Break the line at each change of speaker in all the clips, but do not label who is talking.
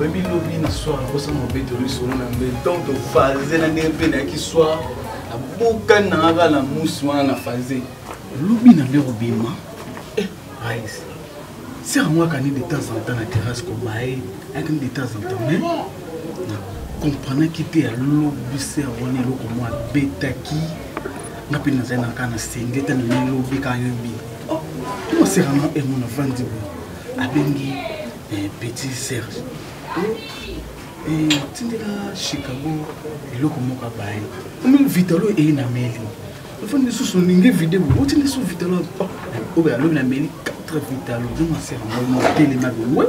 oyebi lobi na soir nakosa mobeto lisolo na mbe donc tofaze na ndenge mpe nayaki soir nabukani na ngaka na musi wana na faze lobi na mbe kobima eh, rise sera yango akani de temps en temps na terrasse kobaye ayakani de temps en temps mais comprenaki te ya lobi sera wana eloko mwa abetaki nga mpe nazali na kaka na senge te na milobi kayobi oh, oserama emona vandi boye abengi eh, petit serge otindela eh, chicago eloko moko abaye omemi vitalo eye na meli ofani lisusu olingi video otindi lisusu vitalo oh, oyo alobi na meli 4 vitalo donc asera motelema bowe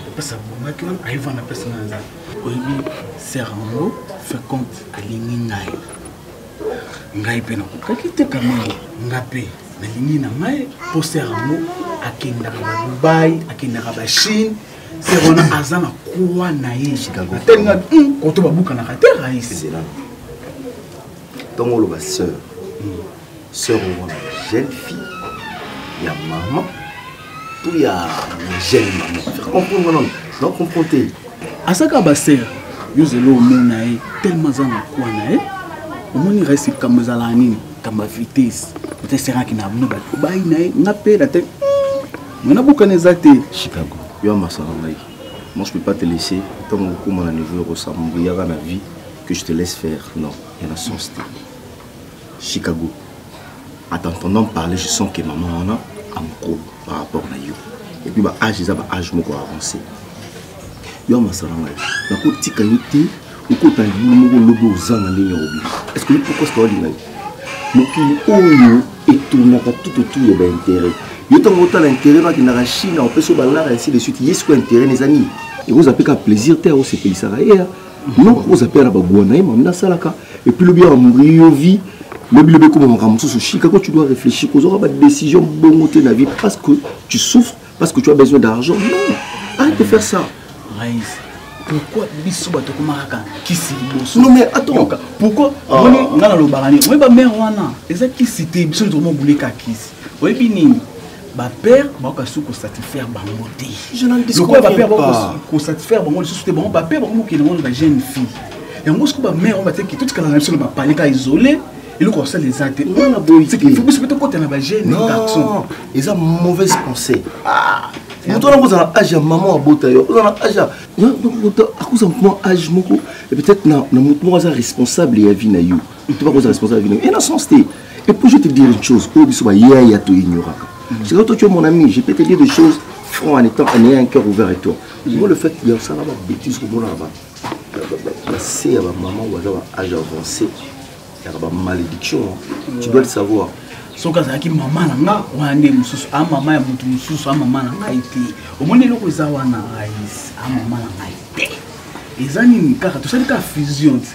apesa bongaki wana ayeva na pesa na nzala oyebi serango fekont alingi ngai ngai mpe nakokaki te kamama nga mpe nalingi na ngai poster yango akendaka ba dubai akendaka ba chine se wana aza na kwa na ye atelinga hmm, koto babukanaka te raisi ntongo
oloba sœur hmm. sœur omona jeune fille ya mama tout ya jeune maman faire comprendre non non comprendre te asaka
ba sœur yo zelo omona ye tellement aza na kwa na ye omoni resi likambo ezalaka nini likambo ya vitesse ota eseraki na bino bato bayi na ye nga mpe na te hmm, mona bokana eza te chicago yo ya
masala ngai moi je peux pas te laisser ntango okokoma na niveau ya kosambuyaka na vie que je te laisse faire non ya na sens te Chicago. En t'entendant parler, je sens que maman on a un gros par rapport à yo. Et puis, bah, âge, ils ont un âge beaucoup avancé. Yo, ma salam, la côte tika yote, ou côte un boulot, lobo, zan, la ligne au Est-ce que pourquoi c'est ordinaire? Mokili oyo etournaka tout autour ya baintérêt yo ntango otala intérêt bakendaka chine opesi yo balara ainsi de suite ye sikoyo intérêt na eza nini ekozala mpe kaka plaisir te aosepelisaka ye non oza mpe na baguwa na ye mami nasalaka epuis lobi awa mbriyo vie lobi lobi ekoma makambo mosusu chicago tu dois réfléchir kozwaka badécision bongo te na vie parce que tu souffres parce que tu as besoin d'argent non arrête de faire ça Maïs,
pourquoi biso bato komaka kaka kisi liboso non mais attends
pourquoi omoni
ah. nga nalobaka nini oyebi bamere wana eza kisi te biso tokomobuleka kisi oyebi nini bapere bango basuki kosatisfaire bango te lokola bapere bango kosatisfaire bango lisusu te bango bapere bango mokende ngo na bajeune fille yango soki bamere yango bateki totikala na biso na bapale ka isole eloko asala eza te biso mpe tokota na bajeune garçon eza
mauvaise pensée ah, moto wana kozala age ya mama abota yo ozala age akoza moto mwa age moko peut-être na moto moko aza responsable ya vie na yo moto bakoza responsable ya vie na yo ena sens te Et puis je te dire une chose, oyo biso ba yaya to ignoraka. C'est quand toi tu es mon ami, je peux te dire des choses franc en étant en ayant un cœur ouvert et toi. Moi le fait que ça va bêtise comme là bas. La c'est ma maman ou à âge avancé. Il y a une malédiction, tu dois le savoir. soki azalaki
mama na nga wana nde mosusu a mama ya moto mosusu a mama na ngai te omoni eloko eza wana a mama na ngai te eza nini kaka tosali kaka fusion te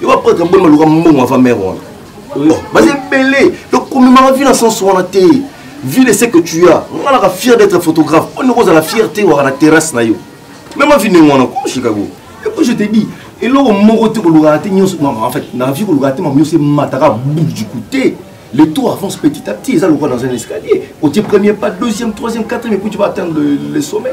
yo baprêtre boni baluka mbongo ava mare wana oh, baza ebele tokomemaka vie na sense wana te vie de ce que tu as nga naka fier d'être photographe mpo ndeko ozala fier te waka na terrasse na yo meme avi ndenge wana ko chicago epo je te dis eloko moko te kolukaka te nyonso en fait na vie kolukaka te mama nyonso emataka bout du coup te le taux avance petit à petit eza lokola dans un escalier otie premier pas deuxième troisième quatrième epuis tu vas atteindre le, le sommet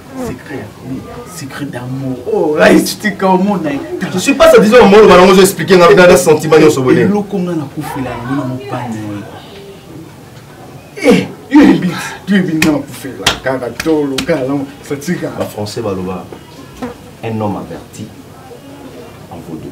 secret ya famille secret d'amour oh rice tika omona je suis pas satisfait
omolo bana ngo expliquer nga na sentiment nyonso boye eloko nga na kufela
yango na mopane eh yo ebi yo ebi nga na kufela kaka tolo kaka lango ça tika ba français baloba
un homme averti en vaudou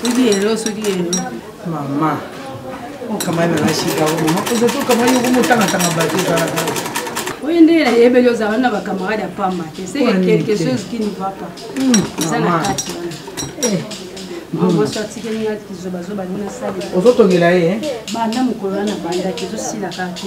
soki lelo soki lelo mama
okamani na nashika mama oza tokamani yoko motangatanga bato ezalaka oyo nde
nayebeli ozala na bacamarade ya pamba te seke quelque chose qui ne va pas hmm, eza na kati wana ozotongela ye eh?
banda mokolo wana
bandaki ezosila kaka te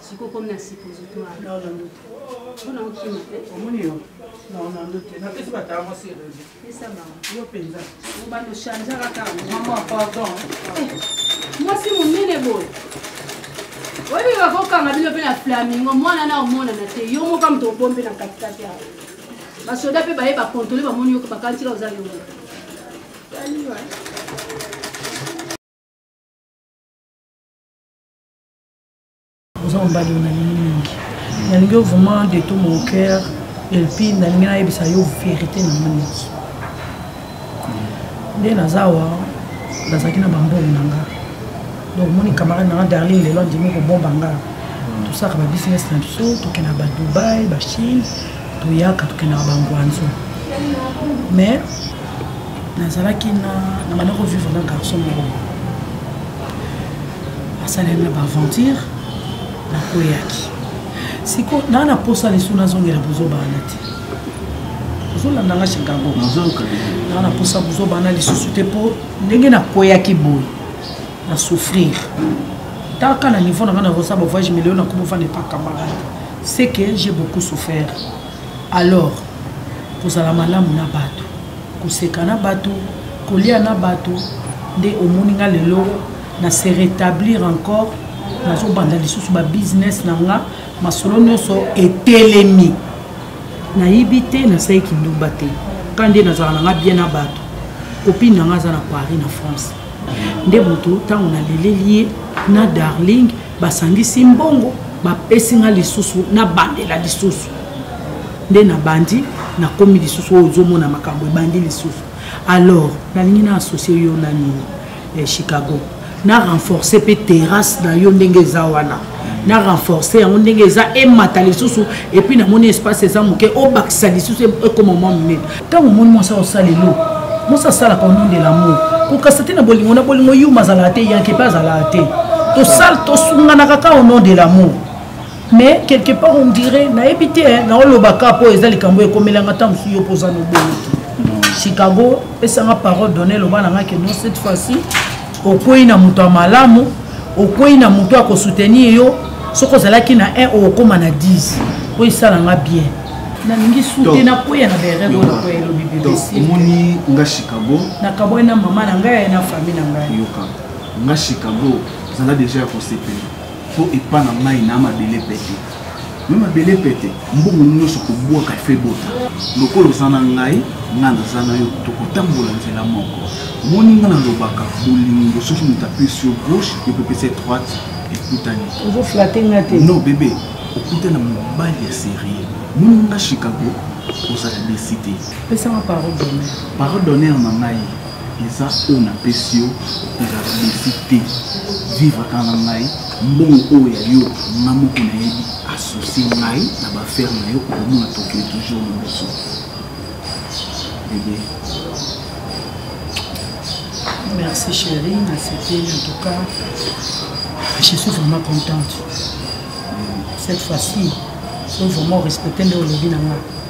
siko komi na suppositoire na na ndoto
mpona
okima te omoni yo
na na ndoto napesi batala mwasi erezi
pesa
bango yo mpenza obanda
ochangeaka kaka mama pardon
eh,
mwasi monene boye oyebi bakokanga bino mpe na flamingo mwana na omonana te yo moka moto obombe na katikati ya basoda mpe baye bakontole bamoni yo bakantika oza yo moko
oza mobali oyo nalingi mingi nalingi yo vraiment de tout mon cœur elpi nalingi nayebisa yo verité na nga niki nde naza awa nazalaki na bambongo na nga donc moni camarade na nga darling lelo andimi kobomba nga tosaka babusiness na biso tokendaka badubai bachine toyaka tokendaka bangwanzo mais nazalaki na manako vivre na garçon moko asaleli na baaventure nakweyaki siko naa na posa lisu nazongela bozoba wana te ozolanda nga chicago naa na posa bozoba wana lisusu te mpo ndenge nakweyaki boye na souffrir taka na niveau na nga nakosa bavoyage milio nakomi ofanda epa camarade ce que j'ai beaucoup souffert alors kozala malamu na bato koseka na bato kolia na bato nde omoni nga lelo na se rétablir encore nazobanda lisusu babusiness na nga masolo nyonso etelemi nayibi te nasali kindumba te ka nde nazala na nga bien na bato kopine na nga aza na paris na france nde moto ntango naleleli ye na darling basangisi mbongo bapesi nga lisusu nabandela lisusu nde nabandi nakomi lisusu oyo ozomona makambo ebandi lisusu alors nalingi na associe yo na nini ya chicago na renforcer mpe terrasse na yo ndenge eza wana na renforcer yango ndenge eza emata lisusu epuis namoni espace eza moke obakisa lisusu ekoma mwa monene ntango omoni mwasi akosala elo mwasi asalaka onondela mo kokasa te na bolingo na bolingo yuma azalaka te yanke mpe azalaka te tosala tosunganaka ka onondela mo mais quelque part on dirait nayebi te naolobaka mpo eza likambo ekomelanga ntango mosusu yo mpo oza nobongo te chicago pesanga parole donne eloba na ngai ke non cette fois-ci okwei na moto ya malamu okwei na moto ya kosoutenir yo soki ozalaki na 1 okokóma na 10 mpo esala nga bien nalingi sute nakweya na bereelobi bebesomoni nga
chicago nakabwai na mama
na ngai na famille na ngai yoka nga
chicago zala deja ya kosepela po epa na ngai na mabele pete me mabele pete mbongo nyonso kobwaka efe bota lokola oza na ngai ngai naza na yo tokotambola nzela moko omoni ngai nalobaka bolingo soki moto apesi yo gauche ekopesa droite ekutani ozoflate nga
te non bebe
okutana mobali ya serie moni nga chicago ozala desi te pesanga parole
d'honneur parole d'honneur na ngai
eza oyo napesi yo okozala desi te vivre kaka na ngai mbongo oyo ya yo nga moko nayebi asosie ngai na bafere na yo okomona tokio toujours liboso bebe
merci chéri nasepeli en tout cas je suis vraiment contente cette fois-ci faut vraiment respecter nde olobi na ngai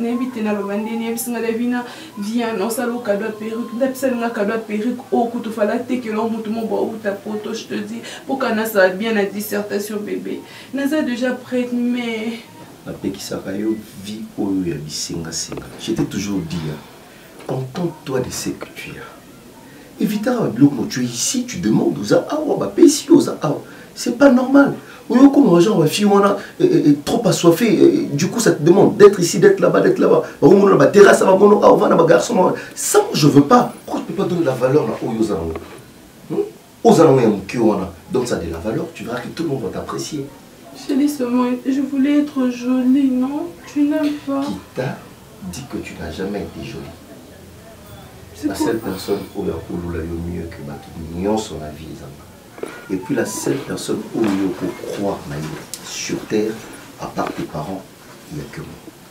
nayebi te naloba nde nayebisi nga davina vian osala okado ya perruque ndapesali nga kado ya perruque oyo kutu fala tekela o motu mobo auta poto je te dis mpoka nasala bien na dissertation bebe naza déjà prête mais napekisaka
yo vie oyo ya bisengasenga j'étais toujours dia contente-toi de ce que tu as evitaka babiloko mo tu es ici tu demande oza awa bapesi yo oza awa c'est pas normal oyokoma bagenre bafille wana eh, eh, eh, trop assoiffé du coup ça te demande d'être ici d'être là-bas d'être là-bas bakomona na baterrasse ya bamono awa vana bagarçon ça je veux pas pourquoi tu peux pas donner la valeur na oyo oza yango aux alentours ya moke wana donc ça de la valeur tu verras que tout le monde va t'apprécier j'ai dit
seulement je voulais être jolie non tu n'aimes pas qui t'a
dit que tu n'as jamais été jolie
la seule personne
oyo akolula yo mieux que bato nyonso na vie ezanga et puis la seule personne oyo okokroire na ye sur terre à part tes parents il n'y a que moi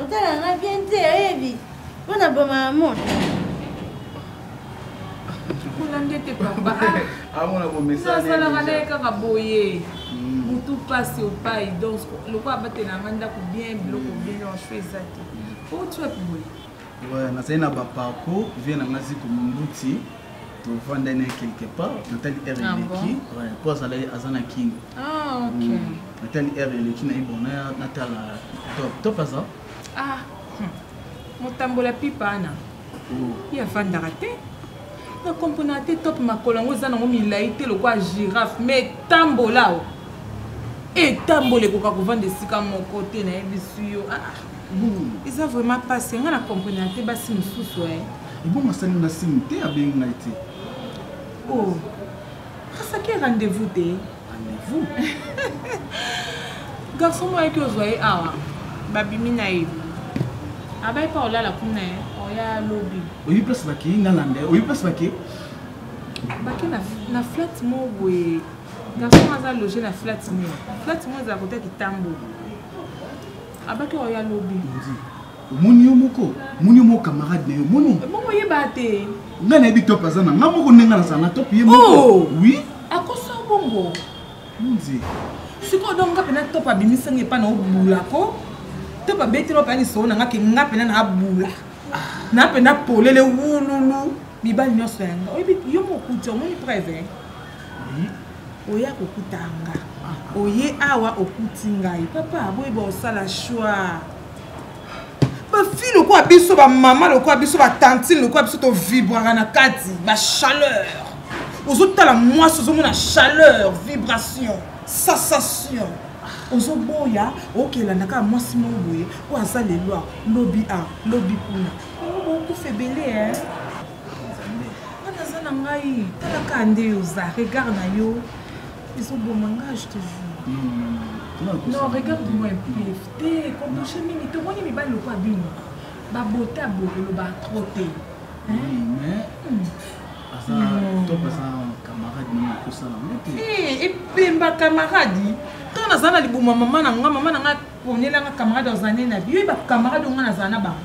otala nga bien te oyebi mpo na boma ya mona kikola
nde te papa amona
bomesasalaka na ye kaka
boye motu hmm. mpasi opai donc lokola abatela nga ndako bien biloko bien yanso eza te otuapi boye Ouais, nazali na
baparcours vie na ngai ziko mombuti tovanda na quelque part natali r ah eleki mpo azalaki aza na kin ah, hmm.
natali r
eleki na ye bon natala top top aza ah, hmm.
motambola pipa ana oh. ye afandaka te nakomponaka te top makolo yango eza nango milai te lokola giraffe ma etambola o etambola ekoka kovanda esika moko te nayebisi yo ah, eza vraiment pasi nga na comprendre te basi mosusu e ebongo asali
nga signe te abengi ngai te o
oh, asaki rendez-vous te
rendez-vous
garçon moko ayaki ozwa ye awa babimi na ye abai mpa olala kuna ye oya lobi oyi place bake
nalanda ye oyi place bake
bake na flat moko boye garçon aza loge na flat moko flat moko ezala kota kitambo abaki oyo alobi omoni
yo moko omoni yo moko camarade na yo omoni bongo oyeba te
ngai nayebi top
aza na ngai moko ndenge nga nazala na top ye moko oh! oui akosa bongo
nzi
sikoyo donc
nga mpena top abimisanga epai na obula ko top abetela mpena lisolo na nga ke nga mpena na abula ah. na mpena polele wululu mibali nyonso yanga oyebi yo mokuti omoni preve oya kokuta nga oye awa okuti ngai papa boyeba osala choix bafille lokola biso bamama lokola biso batantine lokola biso tovibraka na kati bachaleur ozotala mwasi ozomona chaleur vibration sensation ozoboya okelanda kaka mwasi moko boye oyo aza lelo lobi a lobi kuna yango bokufa ebele wana aza na ngai talaka nde yo oza regard na yo ezoboma ngai je te jure non regarde moi mpf te kobouche mingi tomoni mibali lokwa bino babota boye olobaka trop te
epemba
camarade ntango nazala na libuma mama na nga mama na nga ponelanga camarade azala nde na biyo ye bacamarade onga nazala na bango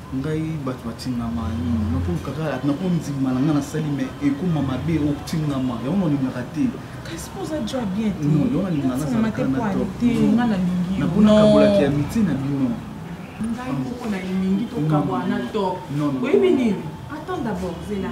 ngai bato batingama nini nakolukaka nakondima na ngai nasali me ekoma mabe otingama yango nalingaka te yango nalingaka
nazalaka
na to te
naponakabolaki ya
mitie na bino ngai moko
na elingi tokabwana to oyebi nini attends
d'abord
zela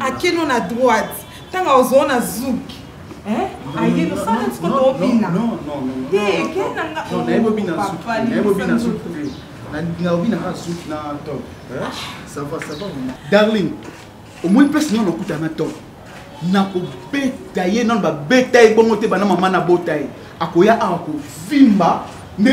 akeno na droite ntango aozoo na zouk ayeno sana ntiko toobina
te kenanga naobinaka zouk na top sava sava darling omoni mpesi nano nakuta na top nakobeta ye nano babeta ye bongo te bana mama nabota ye akoya awa kovimba nde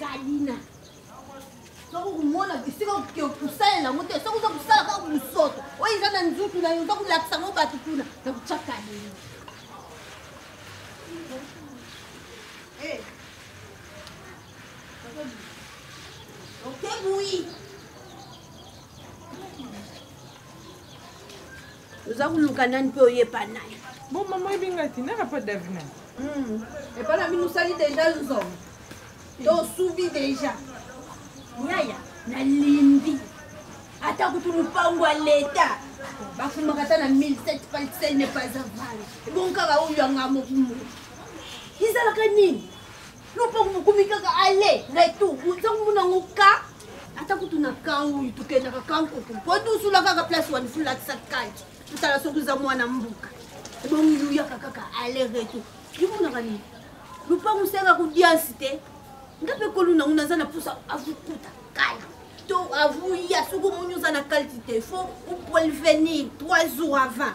kalina soko komona esika kosalela yango te soko oza kosala kaka mosoto oyo eza na nzutu na yo oza kolakisa yango bato kuna na kotya kalina eh. okebui oza koluka nani mpe oyepa naye bon mama oyebi ngai
te naka mpo davina hmm. epa
na bino osali deja nzongo to osubi deja yaya nalimbi ata kutu lopango ya leta bafumaka ata na 1700 palsel ne pas avale ebongo kaka oyo yanga mokumu ezalaka nini no mpe mokomi kaka ale retour ntango mona yango ka ata kutu na kan oyo tokendaka kan kutu mpo dusula kaka place wani fulakisa kati totala soki oza mwana mboka ebongi yuyaka kaka ale retour yomonaka nini lupango osengaka kodiansi te nga mpe kolu nango naza na mposa avukuta kala to avuya soki omoni oza na kaliti te fo opolvenir 3 jours avant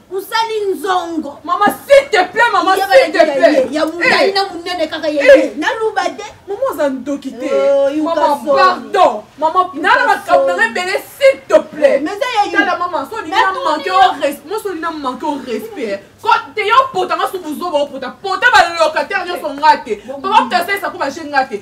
osali
nzongo mama s'il te
plaît mama s'il te plaît ya mundai eh. na
munene kaka ye eh. naluba te mama oza ndoki
te oh, mama pardon mama nala makambo nanga ebele s'il te plaît oh, tala mama
so olingi na
manke o respect moso olingi na manke o respect te yo pota nga so buzoba opota pota balocataire nyonso nga te papa putasaisa ko baje nga te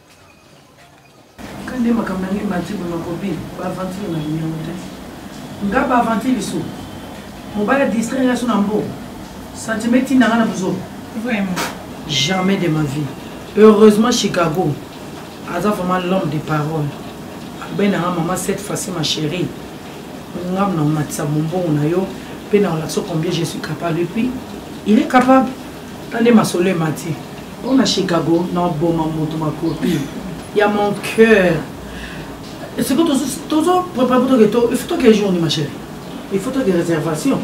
Kande makambo na ngai mati bo na kobi ba aventure na yango te. Nga ba aventure biso. Mobala distraire ya suna mbo. Sentiment tinda nga na buzo. Vraiment.
Jamais de
ma vie. Heureusement Chicago. Aza vraiment l'homme de parole. Abena nga maman cette fois-ci ma chérie. Nga na matisa bonbon na yo. Pe na olakso combien je suis capable. Et puis, il est capable. Tande masolo emati mpo na chicago na oboma moto makopi ya mon cœur siko tozo prépare mpo toke to il faut toke jour ni ma chérie il faut toke réservation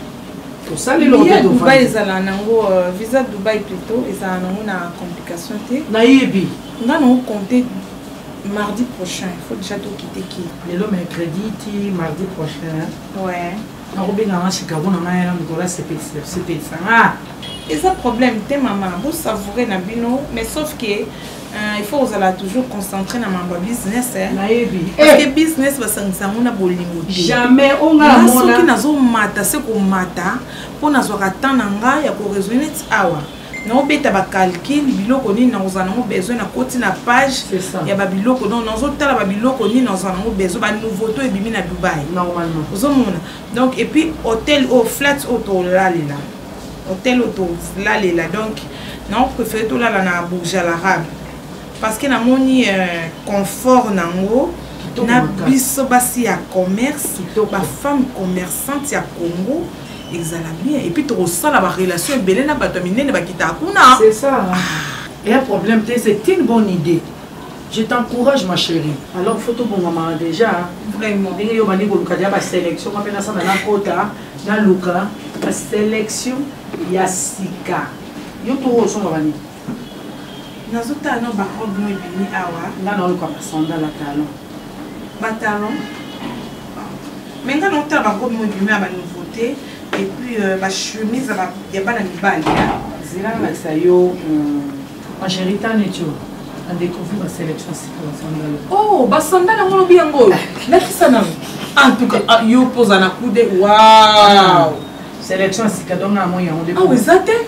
tosalelvisa dubai ezala
nango euh, visa dubai plutôt ezala nango na complication te nayebi
nga nango compte
mardi prochain il faut déjà tokite ki lelo mercredi
ti mardi prochain ouais
nakobenga nga
chicago na ngai na moto asepelisa nga eza problème
te mama bosavoure na bino mais sauf que Euh, il faut kozala toujours concentré na mambo ya business eh. nayebi parce que eh. business basangisa yango na bolingo te jamais
ongasoki nazomata
se komata mpo nazwaka temps na ngai ya koresone ti awa naobeta bacalcule biloko nini nakozala nango besoin nakoti na page ya babiloko donc nazotala babiloko nini nazala nango besoin banouveauté oyo ebimi na dubai ozomona
donc
epuis hôtel oyo flat oyo tolalela hôtel oyo tolalela donc naopréféré tolala na bourge à l'arabe parce que namoni euh, confort nango na biso basi ya commerce bafemme commerçante ya congo ezala bien epuis tokosala barelation ebele na bato ya minene bakitaka kuna c'est ça ah.
eya problème te c'est une bonne idée je t'encourage ma chérie alors faut tobongamaka déjà vraiment ndenge yo bandi
koluka deja
basélection mpe nasana nakota naluka basélection ya sika yo toko osomba bani
nazo tala na ba robe no ebimi awa nga na oluka ba sandal
ya talon ba
talon me nga na otala ba robe no ebimi ya ba nouveauté et puis euh, ba chemise ya bana mibali zela nalakisa
yo angeritanetio euh, adécouvri ba sélection sika ba sandal oh ba sandal yango
olobi yango oyo lakisa nano en tout cas ah, yo poza na kude waw sélection
sika donc na moi yango awa ah, eza te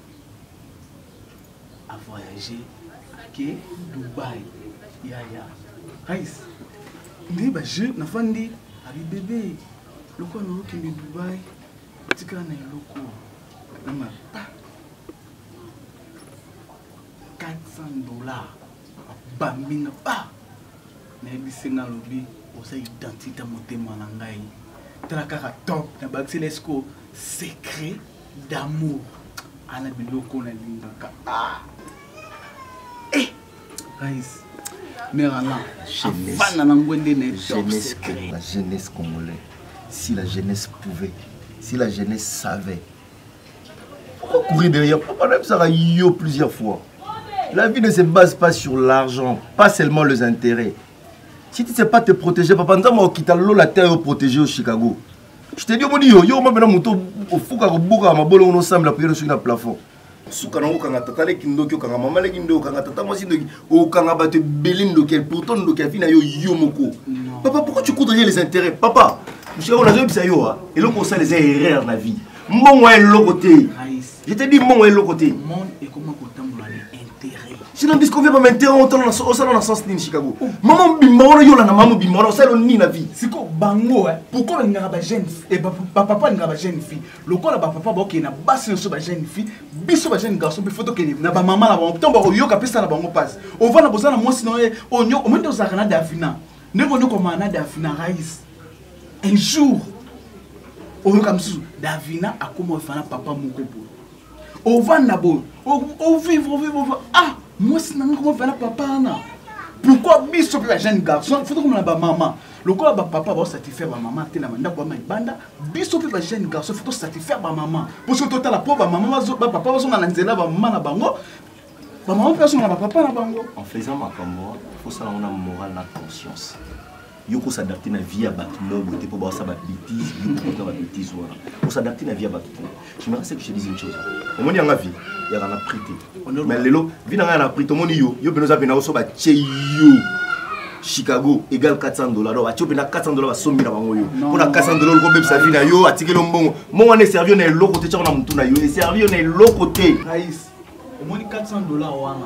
a voyage ake dubai yaya rais nde baje nafandi abi bebe lokola naokende dubai otikala na eloko na mapa 400 dollars bambinga ba nayebisi nga alobi oza identité motema na ngai tala kaka top na bakisela esiko secret d'amour ana biloko nalingaka ah. eh, rise mère alain avanda
na ngwende na jeunesse la jeunesse congolais si la jeunesse pouvait si la jeunesse savait pourquoi courir derrière pourquoi même ça yo plusieurs fois la vie ne se base pas sur l'argent pas seulement les intérêts si tu ne sais pas te protéger papa nzambe okita lola te yo protéger au chicago je te dis omoni yo yo mabena moto ofuka kobuka mabolongo nosambela priere soki na plafond suka nango okanga tata leki ndoki okanga mama leki ndoki okanga tata mwasi ndoki okanga bato ebele ndoki pourtant ndoki avi na yo yo moko papa pourquoi tu coudrais les intérêts papa mosika oyo nazoyebisa yo eloko osala eza erreur na vie mbongo ya eloko te Je te dis mongo eloko te. Monde ekoma kotambola
na intérêt. Sinon ndis ko vema
intérêt on tala na so osala na sens nini Chicago. Oh. Maman bimba wana yola na maman bimba wana osala nini na vie. Siko bango eh
pourquoi ngaka ba jeune et eh, ba papa ngaka ba jeune fille. Lokola ba papa boke na basi so ba jeune fille, biso ba jeune garçon pe photo ke na ba maman na ba papa ba yoka pesa na bango passe. On va na bozana mwasi na ye onyo omende ozaka na Davina. Ndeko nyoko mana Davina Raïs. un jour oyoka mosusu davina akoma ofana papa moko boye ovanda boye ovivre ovivre ovivre ah mwasi nanga koma ofana papa wana pourquoi biso mpe bajeune garçon fo tokomona bamama lokola bapapa baosatisfaire bamama te na bandako ya malibanda biso mpe bajeune garçon fo tosatisfaire bamama mpo soki totala mpo bamama bapapa bazonga na nzela bamama na bango bamama mpe bazonga na bapapa na bango en faisant makambo
fosala yango na moral na conscience yo ko s'adapter na vie ya bato moko boye te mpo baosa ba bêtise yo kokota ba bêtise wana ko s'adapter na vie ya bato te je me reste que je te dise une chose omoni yanga vie yaka na prix te mais lelo vie na ngai na prix tomoni yo yo mpena oza mpena oso batye yo chicago égal 400 dollars donc atyo mpena 400 dollars basombi na bango yo mpo na 400 dollars okobebisa vie na yo atikeli yo mbongo mbongo wana eservi yo na eloko te tyako na motu na yo eservi yo na eloko te
omoni 400 dollars wana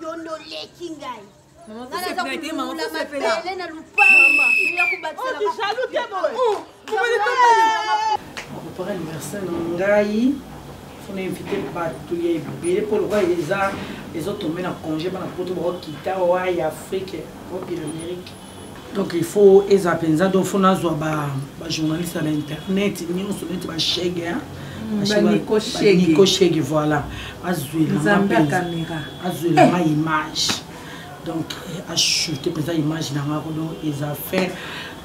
yo nde oleki ngai nganazakubele na lupangopara anniversaire na ngai fona invite bato ya ebele mpo lokola eza ezotombe na congé bana poto bakokita oa ya afrique opi na amérique donc il faut eza mpenza donc fo nazwa bajournaliste ya bainternet nyonso neti bashege baniko hmm, shege voilà azwelanga eh. image donc eh, achoute mpenza image na ngako donc eza faire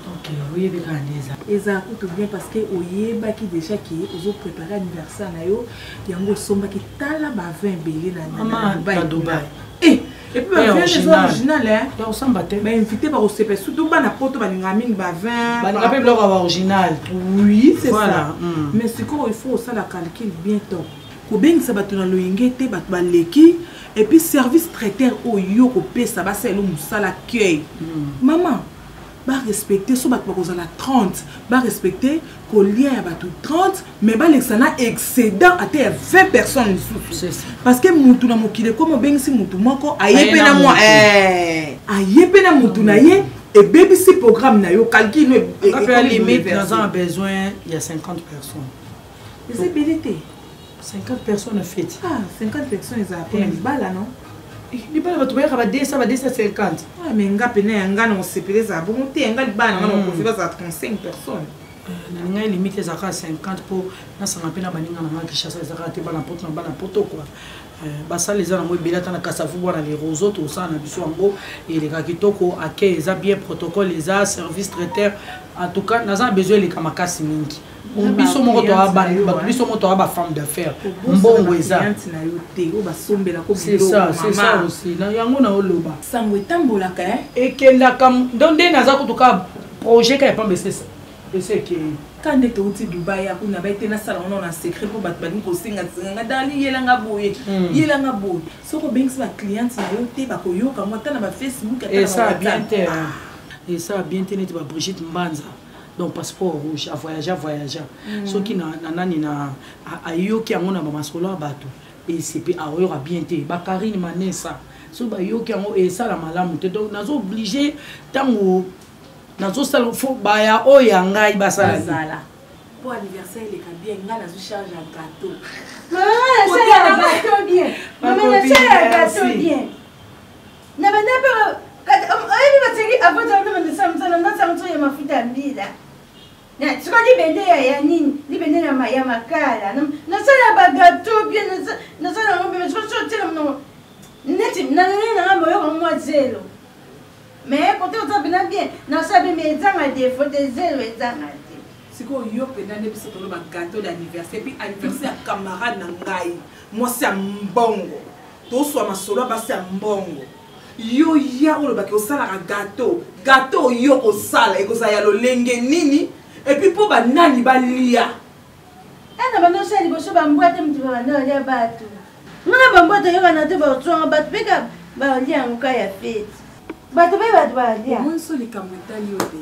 donc eh, oyebi kaka nde eza eza kutu
bien parce que oyebaki déjà ke ozoprépare anniversaire na yo yango osombaki tala bavin ebele na dubai
Eh, epuis
bavin eza original osamba te bainvité bakosepela surtout bana poto balingaka mingi bavinbalinga mpe biloko ya
baoriginal oui c'est ça
hmm. mais sikoyo il faut osala calcul bien temps kobengisa bato na loyenge te bato baleki epuis service traiteur oyo yo kopesa basala elo mosala accueil hmm. mama ba respecter so bato bakozala 30 ba respecter kolia ya bato 30 mais balekisa na excédent ata ya 20 personnes lisusu parce que mutu na mokili ekoma obengisi mutu moko aye mpe na mwa eh, aye mpe na mutu na ye ebebisi programme na yo calcul e- e- limite
naza na besoin ya 50 personnes eza ebele
te 50
personnes na feti ah 50 personnes
ezala mpona eh. libala no eh, libala bato
bayaka ba 200 ba 250 ah, me nga mpena ya
nga na kosepela ezala bongo te yanga libala nanga na kofi bazala 35 personnes nalingaki
limite ezalaka 50 mpo nasanga mpe na baninga nanga kinshasa ezalaka te bana poto na bana poto kua eh, basala eza nango ebele ata na kasavu bwana le roseau tosala na biso yango eleka kitoko ake eza bien protocole eza service traiteur en tout cas naza na besoin eleka makasi mingi biso moko toa bato biso moko toa bafemme d'affaires mbongo ezana yo te oyo basombela ko bilomama aussi na yango na oloba sango etambolaka
eh? ekendaka
donc nde naza kutu ka projet ka ya pamba esesa esi ekei ka nde touti
dubai ya kuna bai te nasala ngo na secret mpo bato balingi kosenga senganga dali yelanga boye hmm. yelanga boye soki obengisi bacliente na yo te bakoyoka ngo ata na bafacebook ata na bawabiente
esa bien te neti ba brigitte mbanza donc passeport rouge avoyagea voyagea mm. soki na, na nani na ayoki yango na bamasolo ya bato ecp aoyoka bien te bakarine manesa so bayoki yango esala malamu te donc nazo oblige ntango nazosala fo baya oyo ya ngai basala po
anniversaire
eleka bien ngai nazwi charge ya gateau ah, Na banda mpe oyebi baseki abotala na bandesa mosala ndasa mosusu ya mafuta ya mbila siko libende ya nini libende ya makala nasala bagato bie nasala yango bie siko so otela monoko neti nalele nanga moyoko mwa zelo mais kote oza mpena bien nasala bie mais ezanga defo te zelo ezanga te sikoyo
yo mpena nde biso toloba gato d'anniversaire puis anniversaire ya camarade na ngai mwasi ya mbongo toswa masolo ya basi ya mbongo yo ya olobaki osalaka gato gato oyo kosala ekozala ya lolenge nini epuis mpo banani balia ena
bandosala liboso bambwa te moto babanda balia bato ngana bambwa toyokana te baotwanga bato mpe ka balia yango ka ya feti bato mpe bato balia omoniso likambo etali
yo te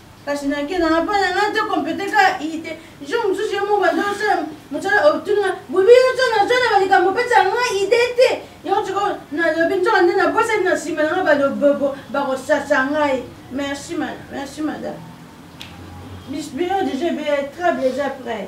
kasi nakenda na bana nga te kompete ka ite jo mosusu ye moko bazosala mosala otunga bobi nyonso nazala balikambo opesa nga ide te yango sikoyo nalobi nzoka nde nabosani na nsima nanga balobobo bakosasa ngai merci merci madame bisbio deja ebele trabe eza près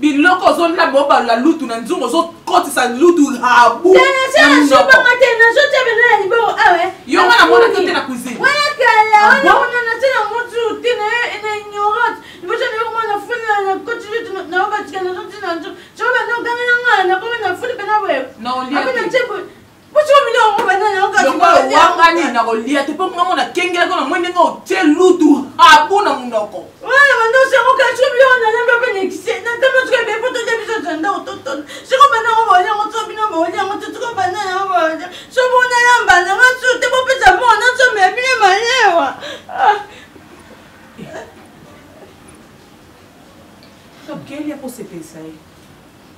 biloko ozolina bobalola lutu na nzungu ozokotisa lutu habu
yo nga namonaki yo te
na
cuisine wangani na
kolia te mpo ngango nakengelaki na moi ndenge otie lutu abu na monoko
Quelle est la possibilité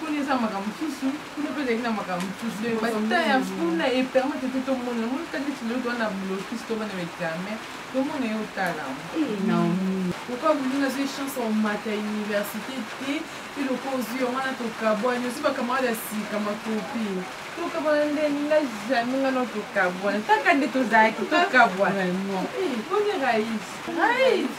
kuna eza makambo mosusu kuna mpe ezalaki na makambo mosusu donc bata ya kuna epermete te tomona moni kati neti lelo towana blokis tobana baexamen tomona ye otala naomi okoa bulu nazwi chance omata université te eloko ozwi yango wana tokabwani ozwi bakamarade ya sika makopi tokabwana nde nga jamais nga no tokabwana taka nde tozalaki tokabwana boni rais rais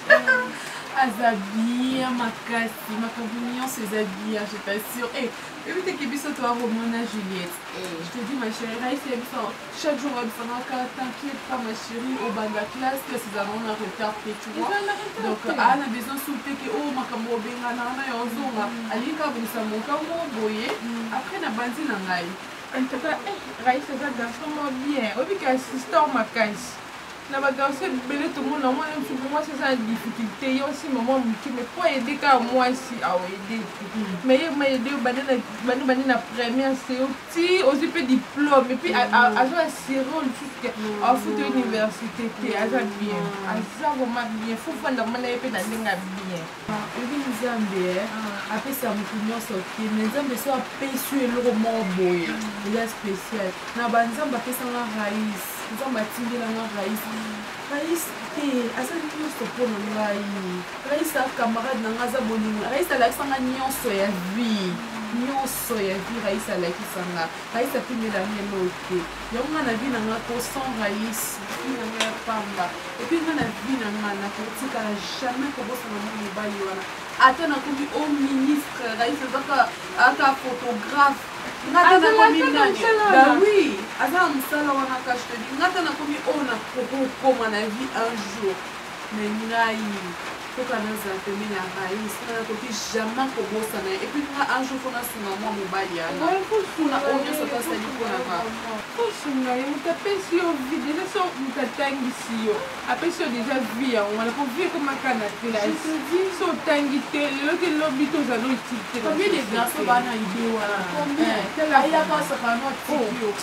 aza bien makasi makambo nyonso eza bien je t'assure eh, oyebi teke biso toakomona juliette eh. je te dis ma chérie rais ya biso Chaque jour babisangaka t'inquiète pas ma chérie obanda classe classe ezalaka ngo na retard te tu vois donc aa na besoin sur te ke oyo makambo obengana wana ya ozonga alingi kaka bongisa moka ngo boye après na banzi na ngai en tout cas eh,
raïs aza garçon mwa bien oyebi ke assistor makasi na bagarso ebele tomona mwana mosuku mwasi eza na difficulté ye osimba mwa moke mai po aide kaka mwasi aoede te mai ye maede yo bande na première seo ti ozwi mpe diplome epuis mm. azo assure oyo lisusu te mm. afuta université te aza bien mm. aza vraiment bien fofanda mama na ye mpe na ndenge ya bien oyebi ah,
nzambe eh? ah. apesa motu nyonso te me nzambe so apesi yo eloko moko boye eza spécial na banzambe apesanga rais nzambe atindelanga rais rais te aza nyonso mpo na ngai rais a camarade na ngai aza bolingo rais alakisanga nyonso ya vie nyonso so ya vie rais alakisa nga rais apimela nga eloo te yango nga na vie na nga ko sans rais vie na nga ya pamba epui nga na vie na nga nakotikala jamais kobosana mwa mobali wana ata nakomi o ministre rais azaka aka photographe ngata nakomi nani ba oui aza na mosala wana kashtobi ngata nakomi oyo nakokoma na vie un jour mais ngai koka nazala pembeni ya raïs nga nakoki jamais kobosana ye epuis nga un jour mpona sunga mwa mobali yana mpona oyo nyonso to asali mpona nga kosunga
ye moto apesi yo vi deja so moto atangisi yo apesi yo deja vi yango wana mpo vi ekomaka na classe so otangi te lelo te lobi toza no utile te combien de garçon
bana idée wana ayaka sakana no atiki yo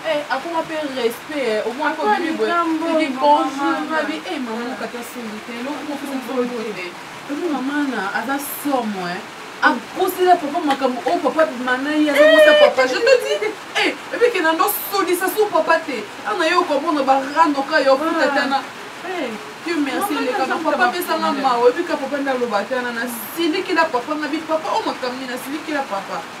Eh, akoma mpe respect eh, omoni kobimi boye bibi bonjour babi e mama mokata soli te eloko mokomokote ebi mamana aza somo e akosela papa makambo oyo papa bimana ye azokosa papa je te dis e ebi kena ndo solisa su papa te ana yo okomona barando ka yo ofutatana Dieu merci eleka na papa apesanga mawa ebika papa nde aloba te ana nasilikila papa ngabi papa oyo makambo nini nasilikila papa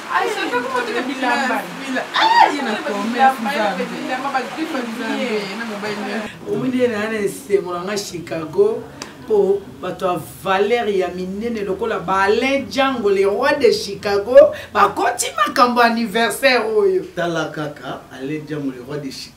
omoni na na esengo na nga chicago mpo bato ya valere ya minene lokola baalain django le roi de chicago bakoti makambo anniversaire oyo tala kaka
alain django le roi de chicago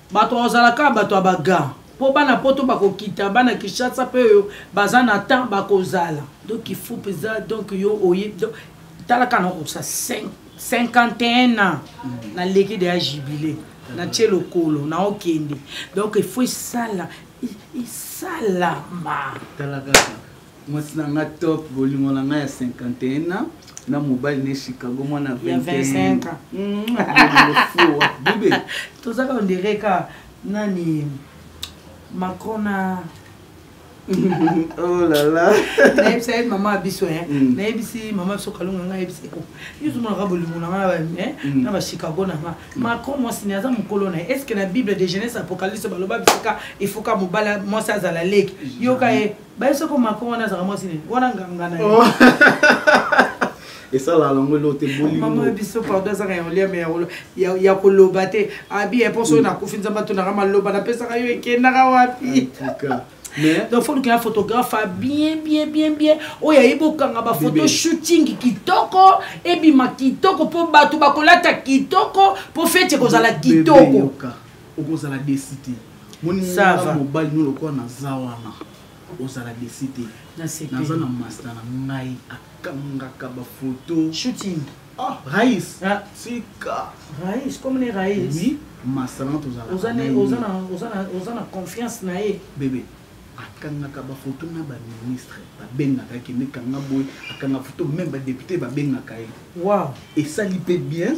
bato bakozala kaka bato ya baga mpo bana poto bakokita bana kinshasa mpe oyo baza na temps bakozala donc ifo mpenza donc yo oye tala kaka nakokisa 51 ans naleki deya jubile natye lokolo naokende donc ifo esala esalama
mwasi na nga top bolingo na nga ya 51 ans na mobali ne chicago mwana 25 ans
mm.
bibe tozaka ondire
ka nani macron na oh
là là nayebisa ye mama
biso e mm. nayebisi mama biso kalunga ngai ayebisa ye yuzumonaka bolingo na nga eh, mm. na bachicago na nga mm. macron mwasi ne aza mokolo na ye estce que na bible de jeunesse apocalypse baloba bisika efoka mobala mwasi azala leki yoka ye baye soko macron wana azalaka mwasi nini wana nganga na oh.
esalaka nango elo te bolimama ya biso pardon azaka
ya oliame ya koloba te abi ya mposo oyo nakufi nzambe atonaka maloba napesaka yo ekendaka wapi donc faut lukela photographe a bien bien bien bien oyo ayebi okanga bafoto shooting kitoko ebima kitoko mpo bato bakolata kitoko mpo feti ekozala kitoko okozala
desi te moninga mobali no lokola naza wana ozala desi te naza na masta na ngai akangaka bafoto shooting
ah rais
ah. tika rais comme
ne rais oui masta na
tozalaoza
na confiance na ye bebe
akangaka bafoto na baministre babengaka ye kende kanga boye akanga foto meme badepute babengaka ye wow esali
mpe
bien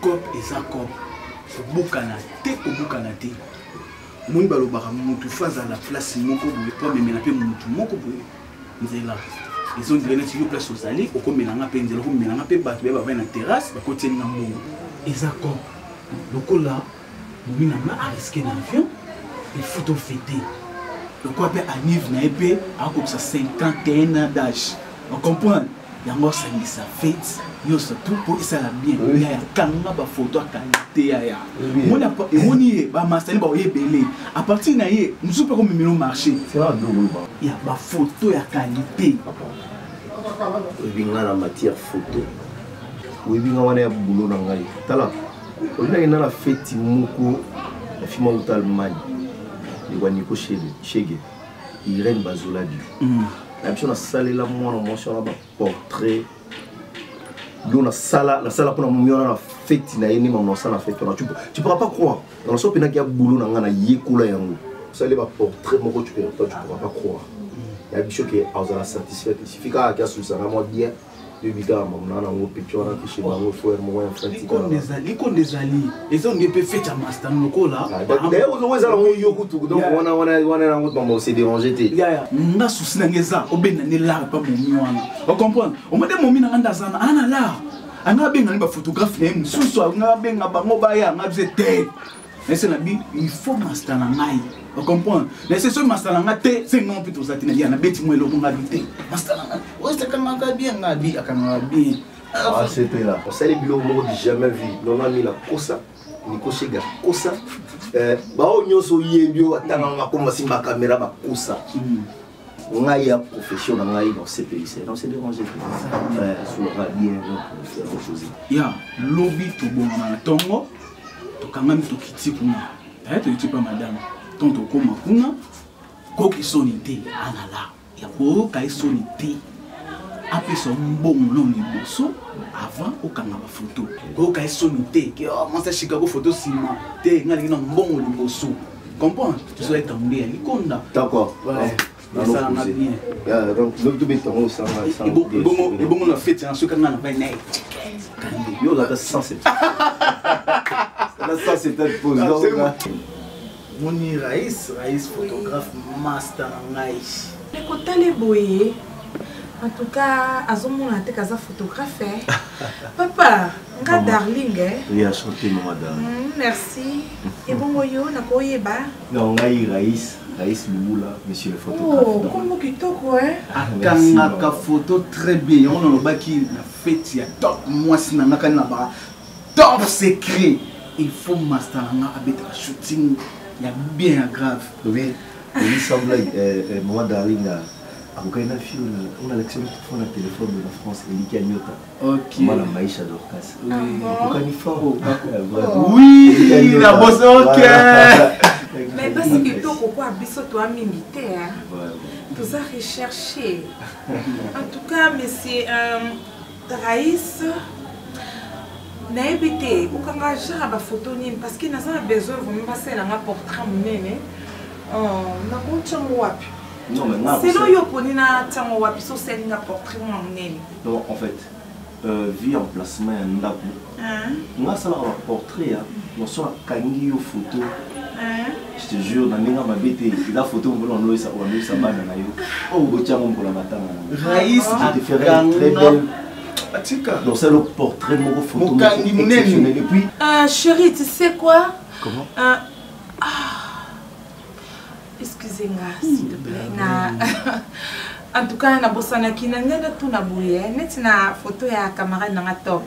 cop eza cop kobukana te kobukana te omoni balobaka mutu fo azala place moko boye po amemela mpe mutu moko boye nzela ezondire neti yo place ozali okomela nga mpe nzela okomela nga mpe bato baye bavai na terrasse bakotieli na mbongo eza cop lokola Mimi na nga a risqué na avion il faut to fêter. Lokola pe anniv na ye pe akobisa 51 ans d'âge. On comprend? Yango asangisa fête nyonso tout mpo esala bien yaya kanga bafoto ya kalite yaya emoni ye bamasani baoye ebele a partir na ye mosusu mpe komemelo marché ya bafoto ya kalite oyebi
ngai na matière foto oyebi ngai wana ya bulo na ngai tala olingaki na na feti moko na fima uta allemagne lekwa niko shege irene bazoladi mm. na biso nasalela mwana mwasi wana baportrait yo nasala nasala mpona momi wana na feti na ye nde mama nasala na feti wana tu pourra pas croire na naso mpenaki ya bulo na ngai nayekola yango osali baportrait moko tu pourra pas croire na biso ke azala satisfait esifikaka ke asolisaka mwa bien likonde
ezali eza onde mpe fete ya masta lokola eza
nango yo kutu donc wana wana wana yango mama ose dérange te nga susi nange
eza obenda nde lar mpa momi wana ocomprendre omode momi nanga nde azana ana lar anga abengani baphotographe na ye mosusu anga abenga bango baya anga bize te nayese na bi il faut masta na ngai ocomprendre nayese soki masta na nga te se ngai mpe toza te na ya nabeti mwa eloko nga bi te masta na ngai osekangaka bien nga bi akangaka bien asepela ah,
ah, osali biloko moko du jamais vu nona mila kosa nikoshiga kosa eh, baoyo nyonso oyebi oyo atangaka makoma simba kamera bakosa hmm. ngai ya profession na ngai nosepelisa non se dérange asolaka bien chose ya lobi
tobongama na ntongo tokangami tokiti kuna eh, toyiti mpa madame ntongo tokóma kuna koki soni te alala ya koyoka ye soni te apesa mbongo nao liboso avant okanga bafoto koyoka ye soni te oh, mwasi ashikako foto nsima te ngai alingi na mbongo liboso comprendre tozo etambe ya likonda d'accord esalanga bien ebongo na fete na soki anga na bai naye yo
olaka 170 moni rais rais photographe master
na ngai ekotale
boye en tout cas azomona te kaza photographe eh. papa nga darling eh. oui,
merci
ebongo yo nakoyeba na ngai
rais rais lubula monsieur le photographe kombo oh, kitoko
akangaka
photo très bien yango nalobaki na feti ya top mwasi na nga kani na ba top secret il faut master na nga abetaka shooting ya bien ya grave oui oui
semblai euh, euh, moi darling akokaki na fio onalakisa motofo na telefone na france eliki ya nyota Okay. Mwana maisha
Dorcas.
Ah Okokani fort. Oh, oh. Oui,
la bosse OK.
Mais parce que to koko biso to mingi te hein. Tous à rechercher. En tout cas, monsieur euh, Raïs nayebi te kokanga genre ya bafoto nini parce que naza na besoin vraiment basala nga portrait monene euh, nakotiango wapi selon yo oponi na ntango wapi so osalinga portrait mwa monene donc en fait
euh, vie emplacement ya ndako nga asalaka baportrait ya noso akangi yo photo je te jure na ndenge mabe te eza photo mokolo wanoyisa wanoyisa bana na yo oyo botyango mokolo matanga rais te
ferai
très belle atika donc c'est le portrait moko photo mokangi monene et puis
euh,
chérie tu sais
quoi comment euh,
ah.
excuse nga s'il te plaît hmm. na en tout cas nabosanaki na ngai natuna boye eh, neti na photo ya camarade nanga top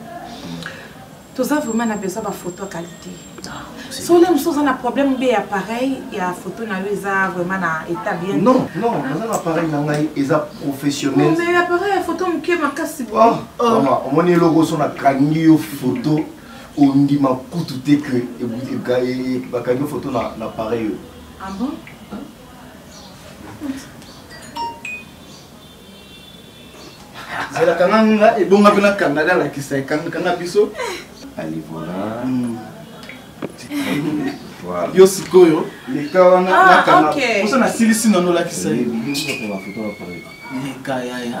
toza vraiment na besoin baphoto ya qualité ah, so le mosusu oza na problème be ya pareil ya photo na yo eza vraiment na état bien non non naza na
pareil na ngai eza professionnel oh, mais appareil ya photo
moke makasi boye ah, oh. omoni eloko
so nakangi yo photo ondima kutu te ke bakangi photo na pareil oyo
Ah
bon? zela kanga nga ebonga mpe nakanga da alakisa ekangakanga biso ali
voilà hmm. yo sikoyo
leka wana ah, nakanga mposa nasilisi nano olakisa ye leka
yaya